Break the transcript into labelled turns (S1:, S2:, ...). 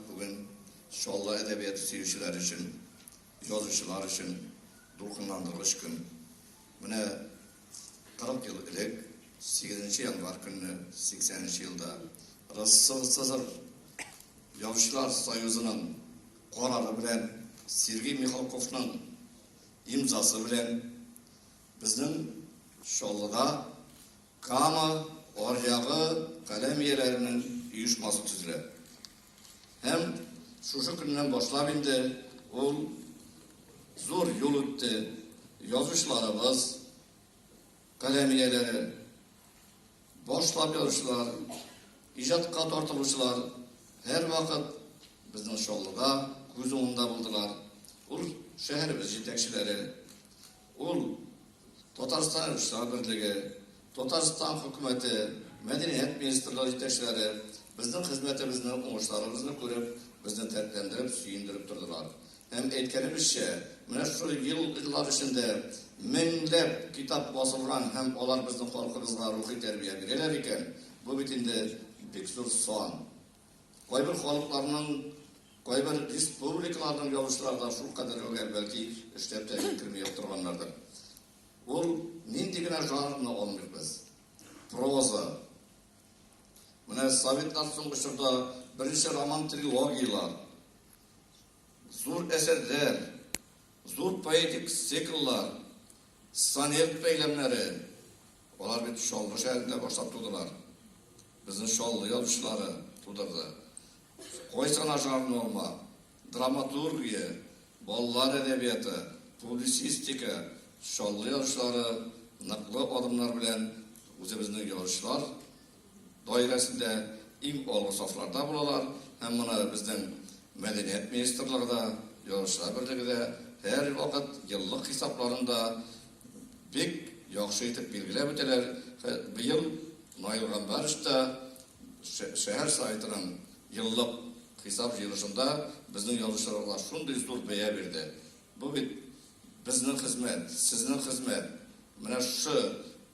S1: Бүген Чаллы әдәбияты сөючеләр өчен, язучылар өчен дулкынландыргыч көн. Менә 40 ел элек, 8 январь көнне, 80 нче елда Россоцср Язучылар союзының карары белән Сергей Михалковның имзасы белән безнең Чаллыда Кама аръягы каләм ияләренең оешмасы төзелә. Һәм шушы көннән башлап инде ул зур юл үтте. Язучыларыбыз, каләм ияләре, башлап язучылар, иҗатка тартылучылар һәрвакыт безнең Чаллыда күз уңында булдылар. Ул шәһәребез җитәкчеләре, Ул Татарстан Режиссерлар берлеге, Татарстан Хөкүмәте, мәдәният министрлыгы җитәкчеләре безнең хезмәтебезне, уңышларыбызны күреп, безне дәртләндереп, сөендереп тордылар. Һәм, әйткәнебезчә, менә шушы еллар эчендә меңләп китап басылган һәм алар безнең халкыбызга рухи тәрбия бирәләр икән, бу бит инде бик зур сан. Кайбер халыкларның, кайбер республикаларның язучылары да шул кадәр гүгәр, бәлки эшләп тә җиткерми торганнардыр. Ул нинди генә жанрны алмыйк без. Проза. Менә советлар соңгы чорда беренче роман трилогиялар, зур әсәрләр, зур поэтик цикллар, сонет бәйләмнәре, Алар бит Чаллы шәһәрендә башлап тудылар. Безнең Чаллы язучылары тудырды. Кой сана жанр норма, драматургия, балалар әдәбияты, публицистика, Чаллы язучылары ныклы адымнар белән үзебезнең язучылар даирәсендә иң алгы сафларда булалар һәм моны безнең Мәдәният министрлыгы да, Язучылар берлеге дә һәрвакыт еллык хисапларында бик яхшы итеп билгеләп үтәләр. Быел Наил Гамбарович та шәһәр Советының еллык хисап җыелышында безнең язучыларга шундый зур бәя бирде. Бу бит безнең хезмәт, сезнең хезмәт. Менә шушы